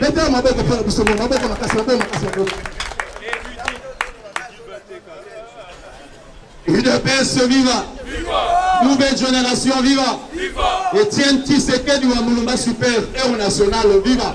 Beta maboko mpo na biso moko maboko makasi maboko makasi maboko. UDPS viva! Nouvelle génération viva! Etienne Tshisekedi wa Mulumba super héros national viva!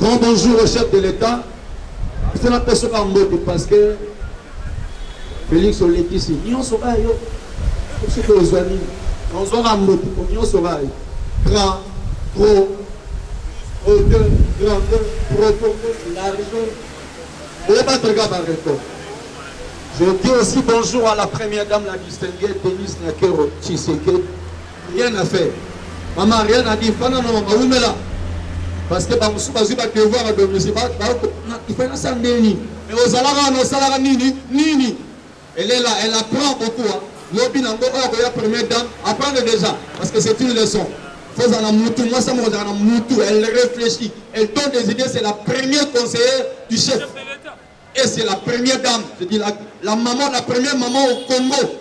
Grand bonjour au chef de l'État. C'est la personne en mode parce que Félix olekisi nyonso oyo yo soki ozwa nini ozwaka mbote po nyonso oyo grand gros hauteur grandeur profondeur largeur oyebatreka barecord Je dis aussi bonjour à la première dame, la distinguée Denise Nakero Tshisekedi. Rien à faire. Maman rien à dire. Fana na maman wumela. Parce que ba musu ba ziba devoir à domicile. Ba ba ko na ifana sa ndeni. Mais ozalaka na osalaka nini? Nini? Elle est là, elle apprend beaucoup. Hein. Lobi na ngo oyo ya première dame, apprendre déjà parce que c'est une leçon. Faut en mutu, moi ça me regarde en mutu, elle réfléchit, elle donne des idées, c'est la première conseillère du chef. Et c'est la première dame, je dis la, la maman, la première maman au Congo.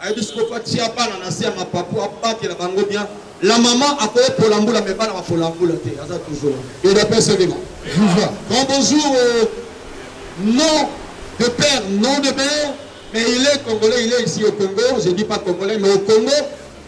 ayebi sikoyo mpo atia bana na se ya mapapu abatela bango bien la mama akoki kolambula me bana bakolambula te aza toujours edapesa elema viva grand bonjour euh, non de père non de mère mais il est congolais il est ici au congo je dis pas congolais mais au congo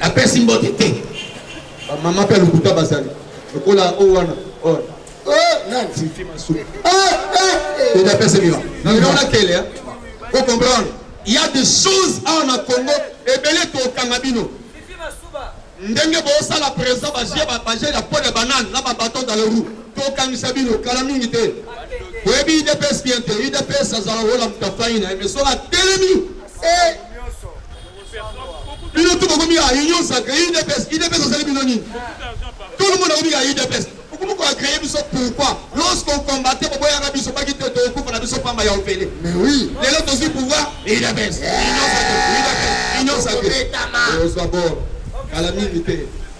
apesi mbote te bamama mpe lokuta bazali lokola o wana oh, nantifi masumu eda apesi bima naona kele o comprendre ya de choses awa na congo ebele tokanga bino ndenge bosala présent baje ya po ya banane na babaton dans le roue tokangisa bino kala mingi te oyebi idps bien te idps azala ola moto afai na ye me soki atelemi Eh! bino tu bokomi ya union sacre udps udps asali bino nini tout le monde akomi ya udps okomi ko agreye biso pourquoi lorsque ocombate boboyaka biso baki te tokokufa na biso pamba ya ofele mais oui lelo tozwi pouvoir udps union sacre udps union sacre ozwa bor kala mingi te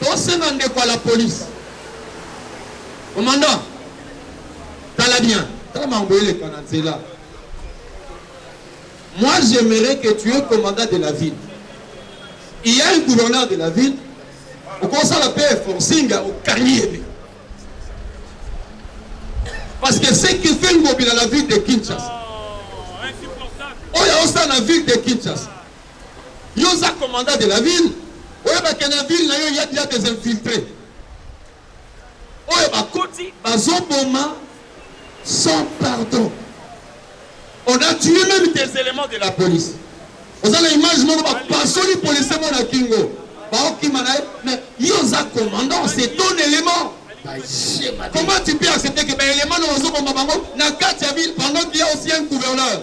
Tosenga ndeko ya la police. Commandant, tala bien, tala makambo eleka na nzela. Moi j'aimerais que tu es commandant de la ville. Il y a un gouverneur de la ville, okosala pe forcing ya okangi ye te. Parce que ce qui fait Ngobila la ville de Kinshasa, oyo osala na ville de Kinshasa Yo oza commandant de la ville, oyeba ke na ville na yo ya ya des infiltres oyo bakoti bazoboma sans pardon. On a tué même des éléments de la police. Oza na image moko bapasoli policier moko na kingo baokima na ye, mais yo oza commandant, c'est ton élément. Comment tu peux accepter que ba éléments na ozoboma bango na kati ya ville pendant qu'il y a aussi un gouverneur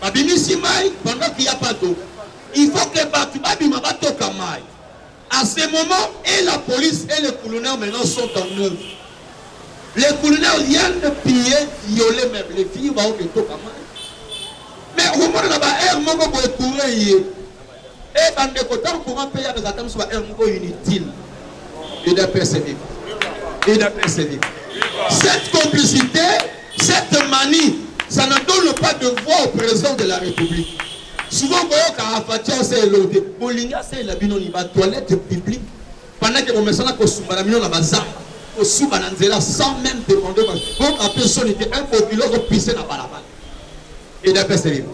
Babimisi mayi pendant qu'il y a pas d'eau. Il faut que batu babima batoka mayi. À ce moment, et la police et les culuneurs maintenant sont en œuvre. Les culuneurs viennent de piller, violer même les filles, baoke toka mayi. Mais omona na ba heure moko boye courant eye. Eh ba ndeko tango courant pe ya ba zata musu ba heure moko inutile. UDPS c'est vivre. UDPS c'est vivre. Cette complicité, cette manie, ça ne donne pas de voix au président de la République. Souvent koyoka afatia se elote. Bolinga se la bino ni ba toilettes publiques Pendant que bomesana kosumba na bino na bazamba, kosuba na nzela sans même demander boka pe soni te un bokilo ko pisse na balabala. Et d'après c'est libre.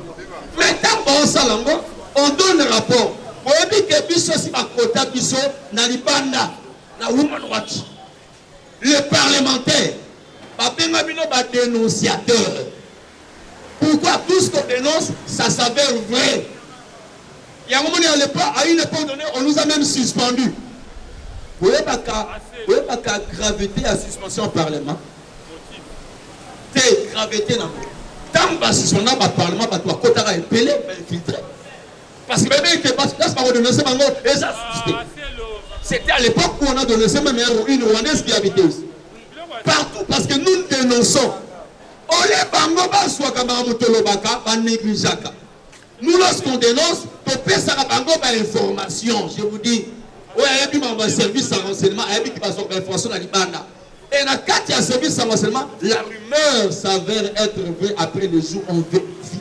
Mais tant bon ça lango, on donne rapport. Boyebi que biso si bakota biso na libanda na Woman Watch. Les parlementaires babenga bino ba denonciateurs. Pourquoi tout ce qu'on denonce, ça s'avère vrai. Yango moni à l'époque, à une époque donnée, on nous a même suspendu. boyebaka boyebaka gravité ya suspension parlement te gravité nango ntango basuspenda baparlement bato bakotaka ebele bainfiltre Parce que bayebi que basi place bako denoncer bango eza C'était à l'époque où on a dénoncé même une Rwandaise qui habitait ici. Partout, parce que nous dénonçons. Olé bango bazwaka makambo tolobaka banegligeaka. Nous, lorsqu'on dénonce, topesaka bango bainformation. Je vous dis, oyo ayebi makambo ya service ya renseignement ayebi ki bazwaka bainformation na libanda. Et na kati ya service ya renseignement, la rumeur s'avère être vraie après le jour on vérifie.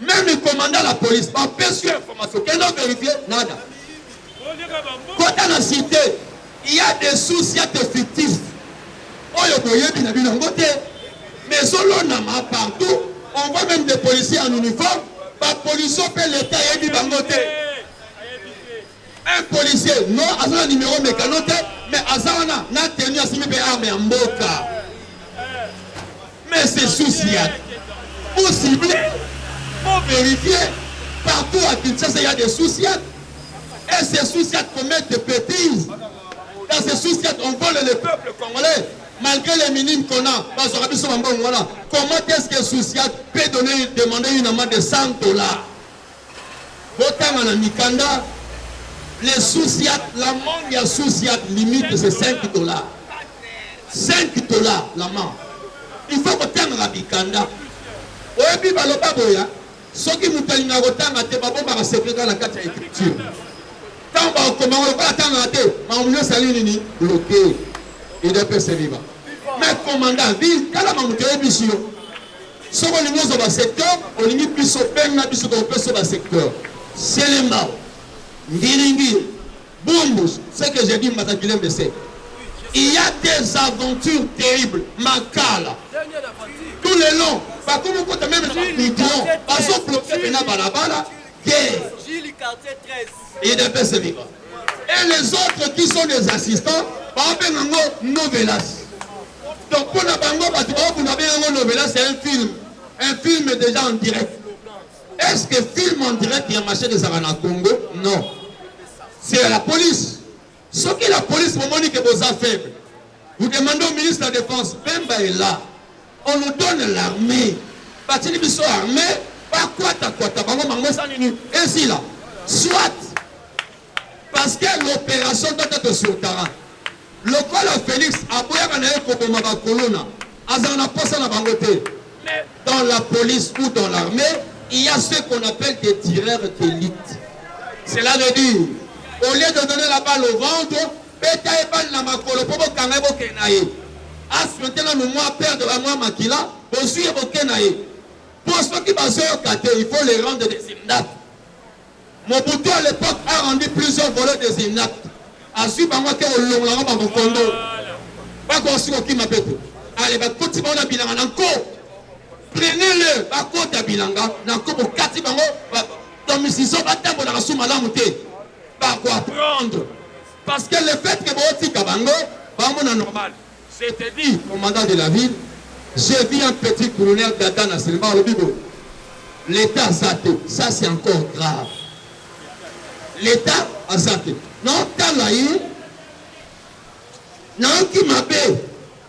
Meme commandant la police ba pesi yo information kende o verifier nada. Kota na cite il y a des sources ya te fictif oyo boyebi na bino yango te mais ezolonama partout on voit même des policiers en uniforme ba policiers mpe l'etat ayebi bango te. Un policier non aza na numero mecano te mais aza wana na tenue asimbi mpe arme ya mboka mais c'est souci ya pour cibler pour vérifier partout à Kinshasa il y a des souciates et ces souciates commettent des bêtises dans ces souciates on vole le peuple congolais malgré les minimes qu'on a bazwaka biso bambongo wana comment est-ce que souciate peut donner demander une amende de 100 dollars Botanga na mikanda le souciat l'amende ya souciat limite c'est 5 dollars 5 dollars l'amende il faut kotangaka mikanda oyebi baloba boya soki moto alingaka kotanga te babombaka secret kaka na kati ya écriture ntango bakokomaka lokola atangaka te makambo nyonso ali nini bloke edepese viva mais komanda vi tala mamoto oyebisi yo Soki olingi ozwa ba secteur, olingi biso, benga biso tokopesa yo ba secteur. Selembao, Ngiringiri, Bumbus, ce que j'ai dit mbata kilembe c'est il y a des aventures terribles makala tout le long bakomi kota meme na bamidron bazobloke pena balabala te idps viva et les autres qui sont des assistants babenga ngo novelas donc mpo na bango bato baobunda benga ngo novelas c'est un film un film déjà en direct est ce que film en direct ya machete ezalaka na congo non c'est à la police soki la police bomoni ke boza faible vous demandez au ministre de la défense bemba est là On nous donne l'armee batili biso armee bakwata kwata bango bango eza nini ezila soit parce que l'opération doit être sur terrain lokola Felix aboyaka na ye koboma bakolona azala na posa na bango te mais dans la police ou dans l'armée il y a ce qu'on appelle des tireurs d'élite cela veut dire au lieu de donner la balle au ventre Beta ye balle na makolo po bokanga ye bokende na ye. A suinter nanu mua perdre ba mua makila, bozui ye boke na ye. Po soki bazoyoka te, il faut le rendre des inaptes. Mobutu à l'epoque a rendu plusieurs voleurs des inaptes. Azui bango ake kolongola bango ba mokondo. Bako osi kokima pe te. Ale bakoti bango na bilanga na nko. Prenez le bakota bilanga na nko bokati bango ba tomisizo batambolaka su malamu te. ba ko apprendre parce que le fait que botika bango bamona normal je te dis commandant de la ville j'ai vu un petit colonel dada na silma alobi boye l'état aza te ça c'est encore grave l'état aza te naotala ye nayoki mabe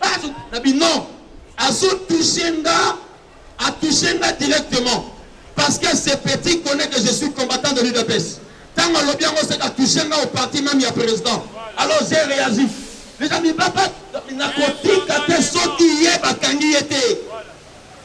Bazo na bino azo toucher nga a toucher nga directement parce que ce petit connaît que je suis combattant de l'UDPS. Tango alobi yango c'est a toucher nga au parti même ya président. Alors j'ai réagi. Les amis baba nakotika te soki ye bakangi ye te.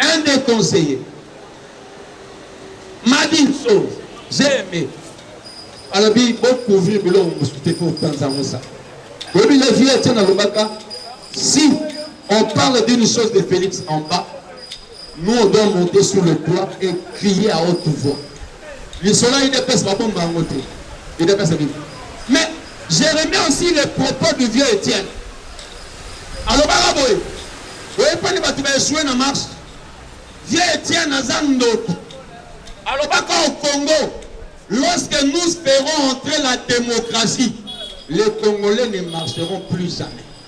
Un des conseillers m'a dit une chose, j'ai aimé. alobi bocouvrir biloko mosusu te mpo otanza yango eza oyebi le vieux etienne alobaka si on parle d'une chose de félix en bas nous on doit monter sur le toit et crier à haute voix lisolo ya idps babomba yango te idps abimi mais Je remets aussi les propos du vieux Etienne. Alobaka boye, oyepani batu ba echoue na marche. Vieux Etienne aza ndoki. Alobaka au Congo, lorsque nous ferons entrer la democratie, les Congolais ne marcheront plus jamais.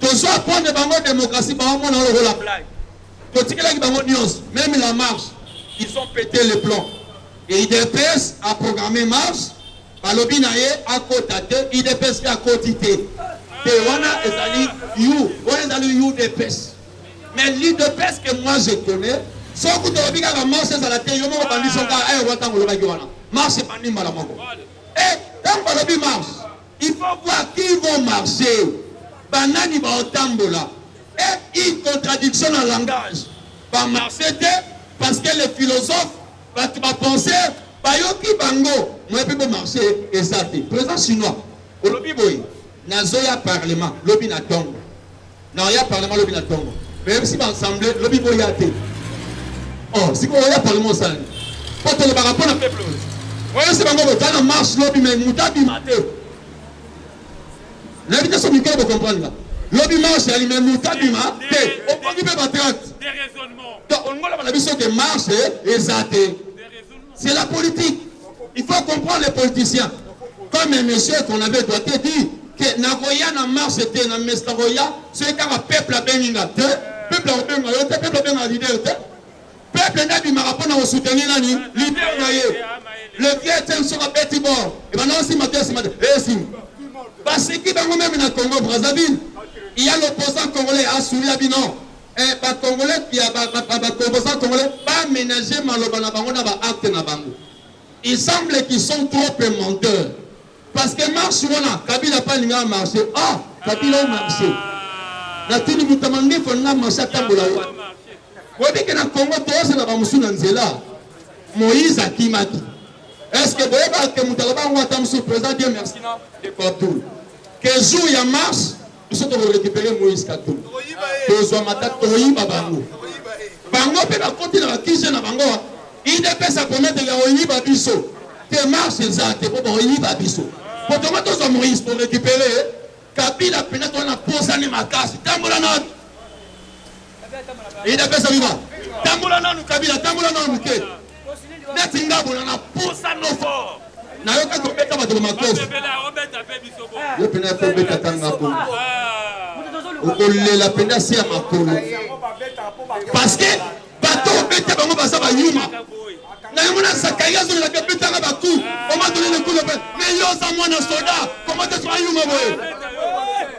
Tozo apprendre bango democratie ba mona yo lokola blague. Totikelaki bango nyonso, même la marche. Ils ont pété le plan. Et IDPS a programmé marche, balobi na ye akota te, IDPS pe akoti te. Te wana ezali you, wana ezali UDPS. Mais l'IDPS que moi je connais, soki tolobi kaka marche ezala te, yo moko bandi soka, eh, wata ngolobaki wana. Marche ebandi mbala moko. Eh, tango balobi marche, Il faut voir qui vont marcher, banani baotambola et une contradiction na langage ba marcher te parce que les philosophes bato ba penser bayoki bango moye mpe bomarche eza te président chinois olobi boye nazoya parlement lobi na tongo Na ya parlement lobi na tongo. Même si ba ensemble lobi bo ya te. Oh, si ko ya parlement osala nini? Po tolobaka mpo na peuple. Oyo se bango boza na marche lobi mais moto abima te. Nayebi te so mikolo bocomprendre nga. Lobi marche yali mais moto abima te. Opongi mpe batracte. Donc olongola bana biso ke marche eza te. C'est la politique. Il faut comprendre les politiciens. Comme un monsieur qu'on avait doté dit que nakoya na marche te na messe nakoya soki kaka peuple abengi nga te peuple akobenga yo te peuple abenga leader te peuple nde abimaka mpo na kosoutenir nani leader na ye le vieux etienne soki abeti bor ebanda osima te osima te esima basiki bango meme na congo brazzaville il y a l'opposant congolais asouria bino Eh ba congolais pia ba ba ba ba composants congolais ba menager maloba na bango na ba actes na bango. Il semble qu'ils sont trop peu menteurs. Parce que marche wana Kabila pa linga marche. Ah, Kabila au marche. Na tini mutama ndefu na marche atambola yo. Boyebi ke na Congo tozela ba musu na nzela. Moïse akimaki. Est-ce que boyeba ke mutala bango ata musu président Dieu merci na de Abdul. Que jour ya marche biso toko recupere moïse katumbi tozwa mata toyiba bango bango mpe bakoti na bakije na bango idps akomete ya oyiba biso te marche eza te mpo baoyiba biso mpo tongo tozwa moïse torecupere kabila mpenza toza na posani makasi tambola na Idps viva. Tambola nanu Kabila, tambola nanu muke. Neti ngabo na posa no fort. Na yo kato beta bato makofi. Yo pena ko beta tanga ko. Okolela pena se ya makolo. Parce que bato beta bango baza ba yuma. Na yo mona sakai azo la beta na ba coup. On m'a donné le coup de mais yo za mwana soda. Comment tu as yuma boye?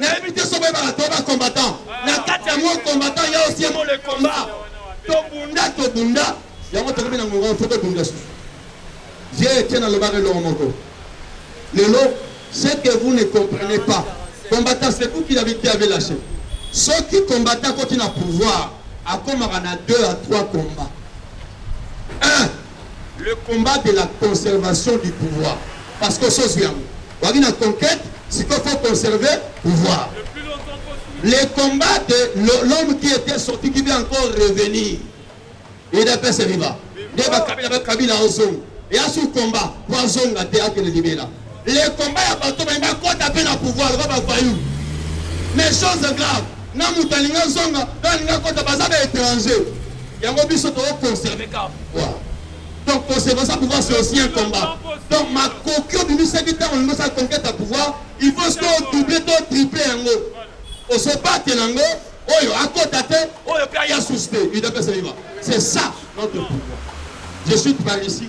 Nayebi te soki oyebaka to ba combattant na kati ya mot combattant ya aussi mot le combat tobunda tobunda yango tokomi na ngonga fo tobunda susu je tie nalobaka eloko moko lelo ce que vous ne comprenez pas combattant c'est vous qui l'avez qui avait lâché soki combattant akoti na pouvoir akomaka na 2 à 3 combat Le combat de la conservation du pouvoir parce que oso zwi yango waki na conquete sikoyo faut conserver pouvoir le combat de l'homme qui était sorti qui vient encore revenir edapese riba nde bakabila bakabila ozonga eya su combat po azonga te akende libela Le combat ya bato baye bakota mpe na pouvoir lokola bavayu mais chose grave na moto alingi azonga na alingi akota baza ba étranger yango biso tokoconserve kaka pouvoir donc conservation pouvoir c'est aussi un combat donc makoki obimisaki ntango olingi osala conquête ya pouvoir il faut soki odouble to triple yango osobate na yango oyo akota te oyo mpe aya susu te udps viva c'est ça notre pouvoir je suis par ici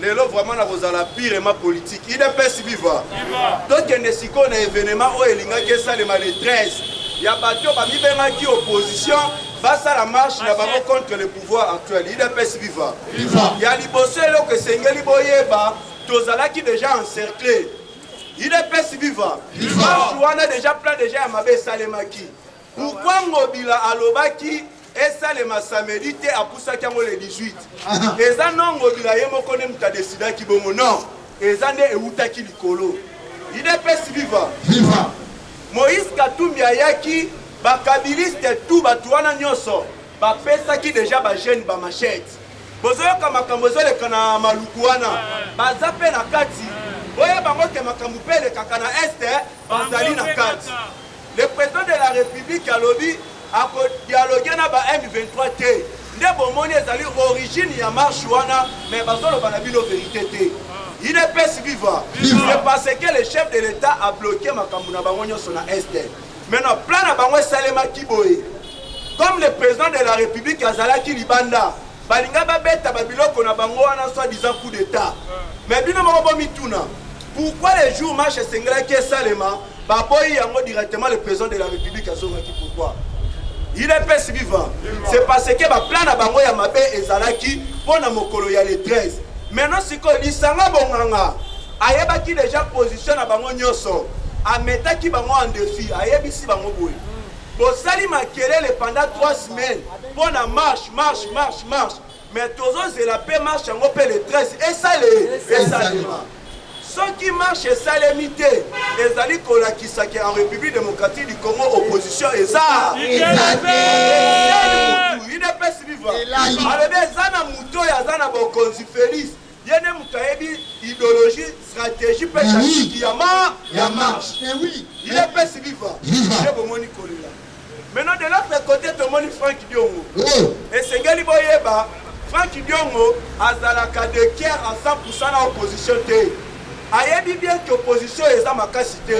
lelo vraiment nakozala pirement politique idps viva tokende sikoyo na evenement oyo elingaki esalema le 13 ya bato oyo bamibengaki opposition basala marche na bango contre le pouvoir actuel idps viva ya liboso eloko esengeli boyeba tozalaki deja encercle idps viva marche wana deja plan deja ya mabe esalemaki Pourquoi Ngobila alobaki esalema samedi te apusaki yango le 18 eza no Ngobila ye moko nde moto adesidaki bongo non eza nde ewutaki likolo idps viva viva moïse katumbi ayaki bakabiliste tu bato wana nyonso bapesaki deja bajeune bamachete bozoyoka makambo ezoleka na maluku wana baza mpe na kati boye bango te makambo mpe elekaka na este bazali na kati Le president de la republique alobi ako dialoguer na ba M23 te nde bomoni ezali origine ya marche wana mais bazoloba na bino verite te udps viva c'est parce que le chef de l'état a bloqué makambo na bango nyonso na est maintenant plan na bango esalemaki boye comme le président de la république azalaki libanda Balinga ba beta ba biloko na bango wana soit disant coup d'etat. Mais bino moko bo mituna pourquoi le jour marche esengelaki esalema ba boyi yango directement le président de la république azongaki pourquoi? Il est pesi vivant. C'est parce que ba plan na bango ya mabe ezalaki pona mokolo ya le 13. Maintenant sikoyo lisanga bonganga ayebaki deja position na bango nyoso. Ametaki bango en défi, ayebisi bango boye. Bosali makelele pendant trois semaines mpo na marche marche marche marche mais tozozela mpe marche yango mpe le 13 esale esalema soki marche esalemi te ezali kolakisa ke en république démocratique du congo opposition eza udps viva alobi eza na moto oyo aza na bokonzi félix Ye nde moto ayebi ideologie, strategie pe tactique ya ma ya marche. Eh oui. Il est pesi viva. Nde bomoni kolela. Maintenant de l'autre côté tomoni Frank Diongo. Oh. Esengeli boyeba Frank Diongo azalaka de Kier à 100% na opposition te. ayebi bien que opposition eza makasi te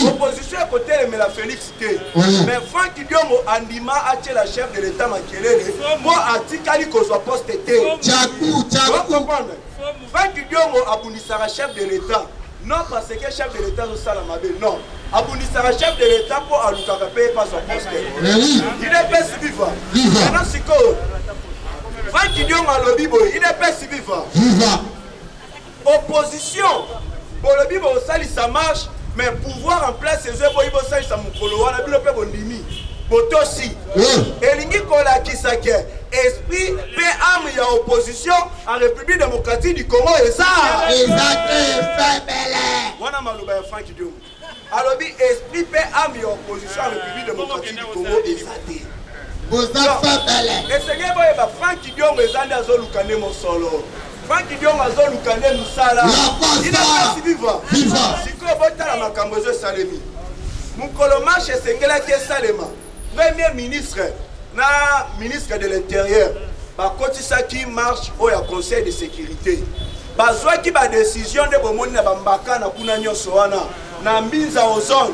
opposition ekotelemela félix te mm. mais frank diongo andima atyela chef de l'état makelele mpo atikali kozwa poste te comprendre frank diongo abundisaka chef de l'état non parce que chef de l'état azosala mabe non abundisaka chef de l'état mpo alukaka mpe epa zwa poste idps viva ana sikoyo frank diongo alobi boye idps viva Opposition bolobi bosalisa marche mais pouvoir en place ezo eboyi bosalisa mokolo wana bino mpe bondimi botosi elingi kolakisa ke esprit mpe ame ya opposition en république démocratique du congo eza eza te febele wana maloba ya frank diomo alobi esprit pe ame ya opposition ya republique démocratique du congo eza te boza fabala esengeli boyeba frank kidiongo eza nde azoluka nde mosolo frank kidiongo azoluka nde mosala inapesi viva sikoyo botala makambo ezo esalemi mokolo marche esengelaki esalema Premier ministre na ministre de l'Intérieur bakotisaki marche oyo ya Conseil de sécurité bazwaki badesizio nde bomoni na bambaka na kuna nyonso wana na mbinza ozone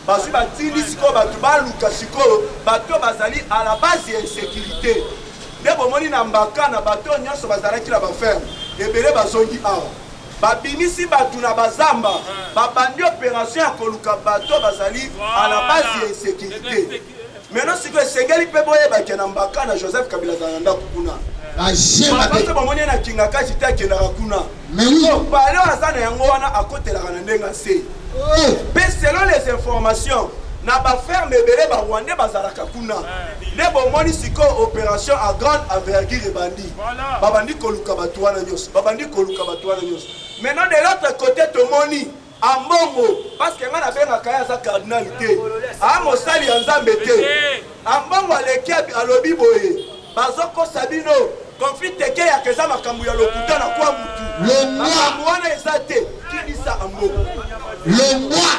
bazwi batindi sikoyo bato baluka sikoyo bato bazali à la base ya insécurité nde bomoni na mbaka na bato nyonso bazalaki na baferme ebele bazongi awa Babimisi bato na bazamba, babandi operation ya koluka bato oyo bazali à la base ya insecurite. Maintenant sikoyo esengeli mpe boyeba que na Mbakana Joseph Kabila azala na ndako kuna. Makambo bomoni ye na Kingakati te akendaka kuna. Sikoyo palais oyo aza na yango wana akotelaka na ndenge ase. Mpe oh. selon les informations na ba ferme ebele ba Rwandais bazalaka kuna. Nde bomoni sikoyo operation à grande envergure ebandi. babandi koluka bato wana nyonso babandi koluka bato wana nyonso maintenant de l'autre côté tomoni ambongo parceke ngai nabengaka ye aza cardinal te aa mosali ya nzambe te ambongo aleki alobi boye bazokosa bino conflit tekeyaka eza makambo ya lokuta na kwa mutu makambo wana eza te kibisa ambongo longwa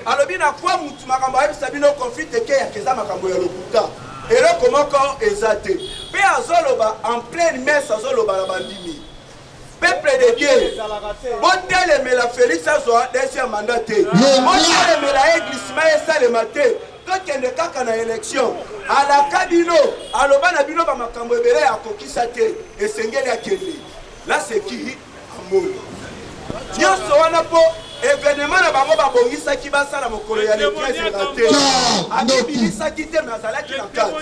alobi na kwa mutu makambo ayebisa bino conflit tekeyaka eza makambo ya lokuta Eloko moko eza te. Pe azoloba en pleine messe azoloba na bandimi. Peuple de Dieu, botelemela Felix azwa deuxième mandat te. Botelemela ye glissement esalema te. Tokende kaka na election. Alaka bino, aloba na bino ba makambo ebele akokisa te. Esengeli akende. Là c'est qui Ambongo. Nionso wana mpo evenement na bango babongisaki basala mokolo ya le 13 na te. Abibilisaki te mais azalaki na kati.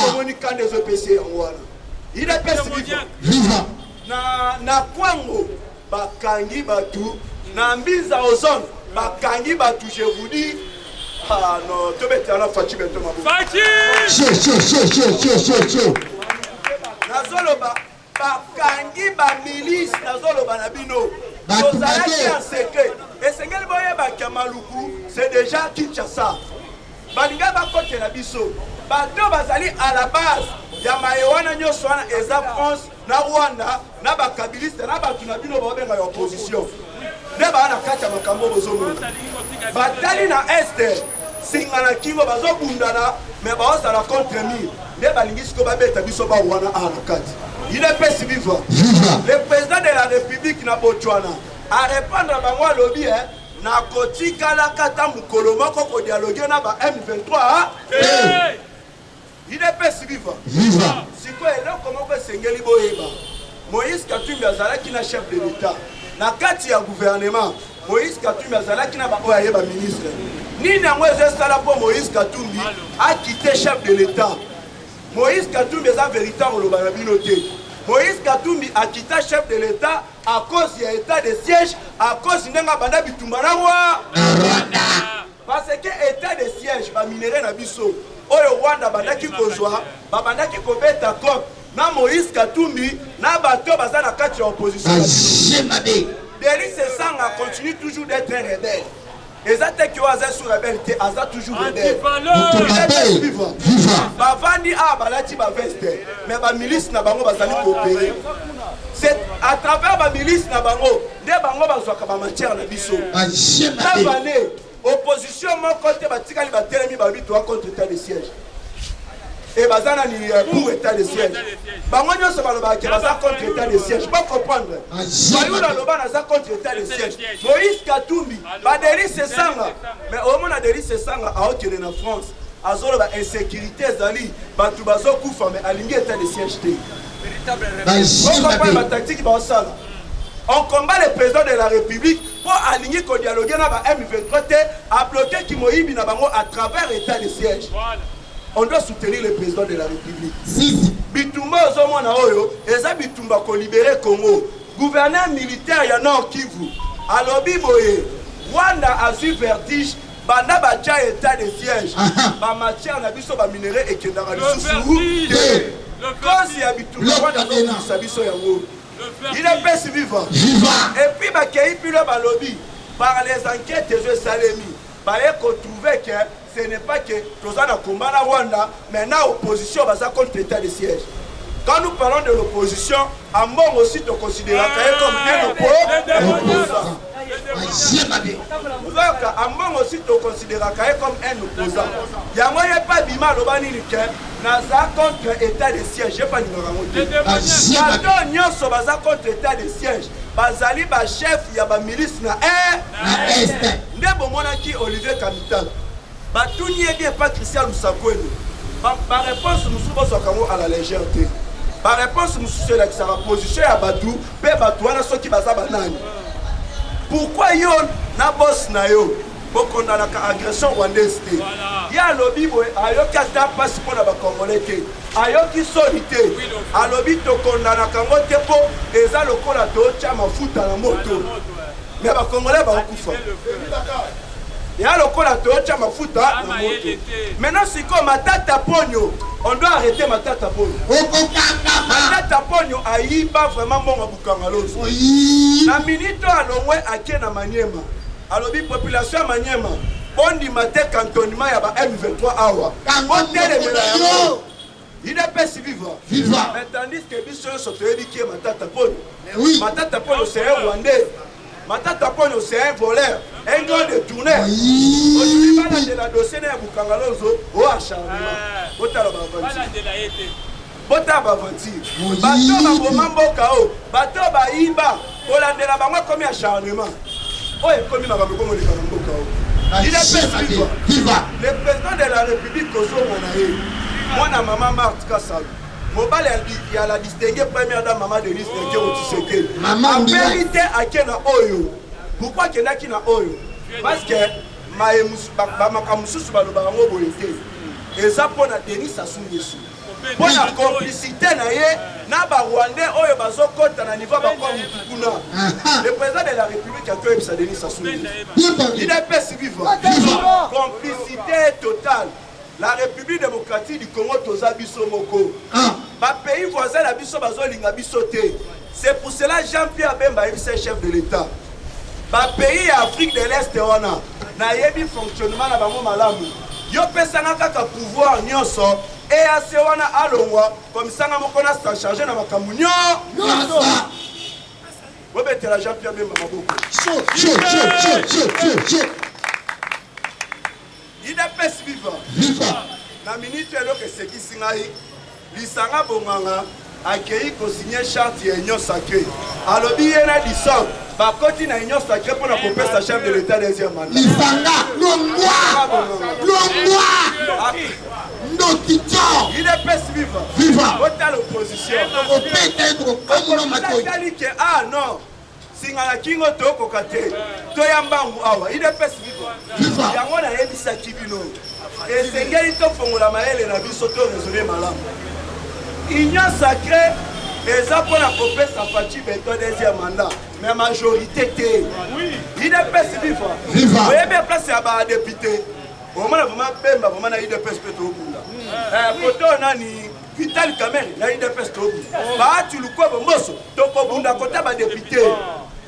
Omoni kanda ezopesi yango wana. Il est pesi viva. Na na kwango bakangi bato na mbinza ozone bakangi bato je vous dis ah non tobetela na faci bento maboko nazoloba bakangi ba milice nazoloba na bino tozalaki ya secret esengeli boyebaki ya maluku c'est déjà kinshasa balingai bakotela biso bato bazali à la base ya maye wana nyonso wana eza france na rwanda na bakabiliste na bato na bino baobenga ya opposition nde baa na kati ya makambo oyo bozomona batali na este singa na kingo bazobundana me baozala contre mire nde balingi siko babeta biso bao wana a na kati idepesi viva le président de la république na botswana arépondre bango alobi e nakotikalaka ata mokolo moko kodialoge na ba m23 te Udps viva! Viva! Sikoyo eloko moko esengeli boyeba, Moïse Katumbi azalaki na chef de l'Etat na kati ya gouvernement. Moïse Katumbi azalaki na baoyo aye ba ministre. Nini yango ezo esala mpo Moïse Katumbi akite chef de l'Etat? Moïse Katumbi eza verite akoloba na bino te. Moïse Katumbi akita chef de l'Etat à cause ya etat de siège, à cause ndenge abanda bitumba na Rwanda. Parce que etat de siège ba minerais na biso oyo Rwanda bandaki kozwa babandaki kobeta cop na Moïse Katumbi na bato baza na kati ya opposition. Denis Sesanga continue toujours d'être un rebelle. eza te ke oyo aza sur rebelle te aza toujours rebelle bavandi awa balati baveste mais bamilice na bango bazali koopere c'est à travers bamilice na bango nde bango bazwaka ba matière na biso navale opposition moko te batikali batelemi balobi toa contre etat de siège e baza na eh, pour état de siège bango nyonso balobaka ke baza contre état de siège po comprendre bayuda ah, aloba naza contre état de siège moïse katumbi badelise esanga mais omona delise esanga aokende na france azoloba insécurité ezali bato bazokufa mais alingi état de siège te bazokompana bataktiki baosala on combat le président de la république mpo alingi kodialogue na ba m23 te abloke kimoyibi na bango à travers état de siège on doit soutenir le président de la république bitumba ozomona oyo eza bitumba kolibere congo gouverneur militaire ya nord kivu alobi boye rwanda azwi vertige Banda batia etat de siège, ba matières na biso ba minerais ekendaka lisusu te. Cause ya bitumba wana azobundisa biso yango. Il est pesi viva. Et puis bakei pilo balobi par les enquêtes ezo esalemi baye ko trouver que ce n'est pas que toza na combat na Rwanda Mais na opposition baza contre etat de siège. Quand nous parlons de l'opposition, Ambongo aussi te considéraka ye comme un opposant. Ozoyoka Ambongo aussi te considéraka ye comme un opposant. Yango ye mpe abima aloba nini ke naza contre état de siège ye mpe alingaka yango te. Bato nyonso baza contre état de siège bazali bachef ya bamilice na est nde bomonaki Olivier Kamitala Batuni ye bien pa Christian Lusakueni ba reponse mususu bozwaka yango a la legere te ba reponse mususu elakisaka position ya batu pe batu wana soki baza banani pourquoi yo na boss na yo bokondanaka agression rwandaise te ye alobi boye ayoki ata mpasi mpo na bacongolais te ayoki soni te alobi tokondanaka yango te mpo eza lokola totya mafuta na moto me bacongolais baokufa ya lokola toyotya mafuta na moto maintenant sikoyo matata ponyo on doit arrêter matata ponyo matata ponyo ayiba vraiment mbongo bukanga loso na minute oyo alongwe ake na maniema alobi population ya maniema bondima te cantonnement ya ba m23 awa botelemela yango Udps viva. Viva. Mais tandis que biso nyonso toyebi qui est Matata Ponyo. Mais oui. Matata Ponyo c'est un Rwandais. Matata Ponyo c'est un voleur. Un grand détourneur. Aujourd'hui balandela dossier na ya Bukangalonzo o acharnement. Botala ba aventure. Balandela ye te. Botala ba aventure. Bato baboma mboka o. Bato bayiba. kolandela bango ekomi acharnement oyo ekomi makambo ekomoleka na mboka oyo il est viva viva le président de la république kozonga na ye mwana mama marte kasalo mobali ya la distingue première dame mama denise nekeo tisekeli apeli te ake na oyo pourkui akendaki na oyo parce que makambo mosusu balobaka yango boye te eza mpo na denis asungesu mpo na complicité na ye na ba rwandais oyo bazokɔta na niveau bakwa mutu kuna le président de la république ake oyebisa denis sasudps viva complicité totale la république démocratique du congo toza biso moko ah. bapays voisin na biso bazolinga biso te C'est pour cela Jean Pierre Bemba ayebisaki chef de l'Etat ba pays ya Afrique de l'Est wana nayebi fonctionnement na bango malamu yo pesanga kaka pouvoir nyonso eac wana alongwa komisanga moko na sa charge na makambo nyonso bobetela jean pierre bemba maboko Udps viva! Viva! Na minute eloko esekisi ngai lisanga bonganga akei kosinye charte ya union sacré alobi ye na disordre bakoti na union sacré mpo na kopesa chef de l'état deuxième mandat lisanga longwa longwa ndoki tio udps viva viva otala opposition okopeta ye tokokamuna matoi ke ah non singa na kingo tokoka te toya mbangu awa idps biko yango nayebisaki bino esengeli tofongola mayele na biso to resone malamu union sacré eza mpo na kopesa faci beton deuxième mandat mais majorité te idps viva oyebi place ya badepute omona vraimen bemba vraimen na idps mpe tokunda koto hmm. eh, nani Vital Kamerhe na UDPS tobi Bahati Lukwebo Mboso tokobunda kota ba député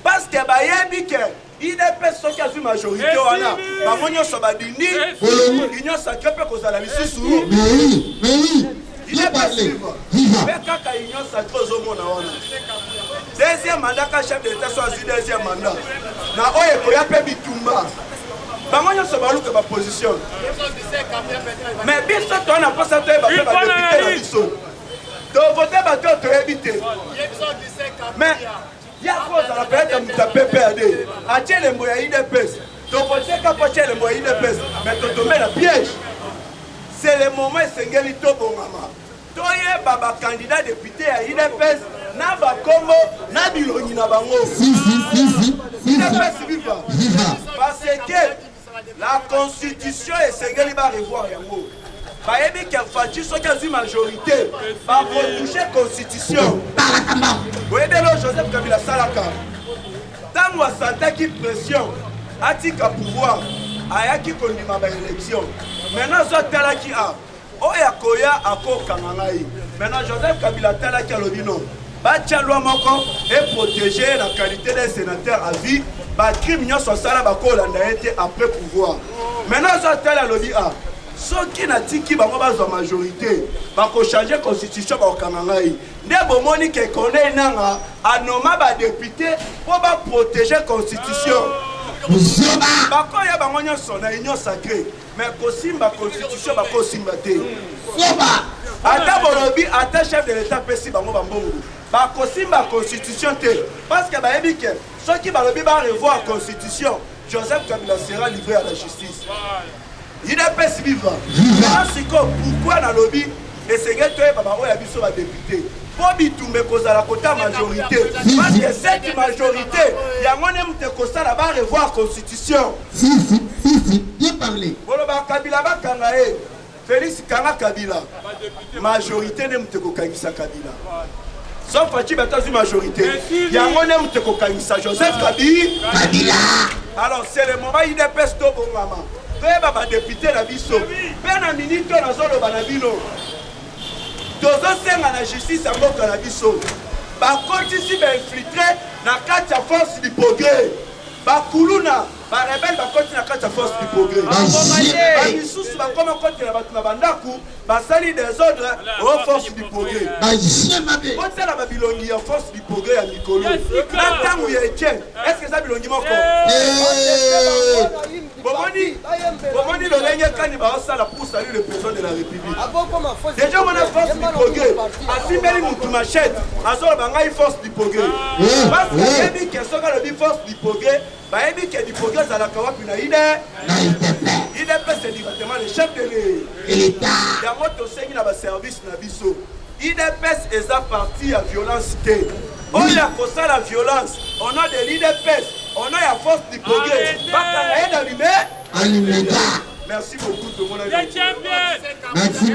parce que bayebi que UDPS soki azwi majorité wana bango nyonso badindi union sacrée mpe kozala lisusu UDPS mpe kaka union sacrée ozomona wana Deuxième mandat ka chef de l'etat so azui deuxième mandat na oyo ekoya pe bitumba bango nyonso baluka ba position mais biso toa na mposa toyeba pe badepute na biso tovote bato oyo toyebi te mais yako ozala peut-être moto ya pprd atie elembo ya idps tokoteka mpo atie elembo ya idps mais totombe na piège c'est le moment esengeli tobongama Toyeba ba candidats deputes ya udps na ba kombo na bilongi na bango. Udps viva! Parce que la constitution esengeli ba revoir yango. bayebi ke faci soki azwi majorité bakotouche constitution boyebi elo joseph kabila asalaka ntango asantaki pression atika pouvoir ayaki kondima baélection maintenant azo atalaki a oyo akoya akokanga ngai maintenant joseph kabila atalaki alobi no batya lwa moko eprotege ye na qualité de sénateur à vie bacrime nyonso asala bakolanda ye te après pouvoir maintenant azo atali alobi a ah, soki natiki bango bazwa majorité bakochange constitution bakokanga ngai nde bomoni ke corneille nanga anoma badepute mpo baprotege constitution bakoya bango nyonso na union sacrée Mais kosimba constitution bakosimba te. Soba. Ata bolobi ata chef de l'etat pesi bango bambongo. Bakosimba constitution te parce que bayebi ke soki balobi ba revoir constitution Joseph Kabila sera livré à la justice. UDPS viva. Viva. Siko pourquoi nalobi esengeli toyeba baoyo ya biso ba député mpo bitumba ekozala kota majorité parce que cette majorité yango nde moto ekosala ba revoir constitution Si si si si bien parle. Boloba kabila bakanga ye Felix kanga kabila majorite nde moto ekokangisa kabila sans faci bato azwi majorité yango nde moto ekokangisa joseph kabi kabila alors c'est le moment idps tobongama toyeba badepute na biso mpe na minite oyo nazoloba na bino tozosenga na justice ya mboka na biso bakotisi bainfiltre na kati ya force du progrès Ba kuluna, ba rebelles bakoti na kati ya force du progrès. Ba misusu bakoma kotela batu na ba ndaku, basali desordre o force du progrès. Botala ba bilongi ya force du progrès ya mikolo na tangu ya Etienne, est-ce que eza bilongi moko? bomoni bomoni lolenge kani baosala pour salut le président de la république ah, déjà wana force du progrès asimbeli mutu machette azoloba ngai force du progrès ah. parce que ah. yebi ke soki alobi force du progrès bayebi ke du progrès ezalaka wapi na ide idps directement le chef de l'etat yango tosengi na baservice na biso Udps eza parti ya violence te. Oyo akosala violence au nom de l'udps, au nom ya force du progrès, bakanga ye na lume. Alimeta. Merci beaucoup tout le monde. Merci.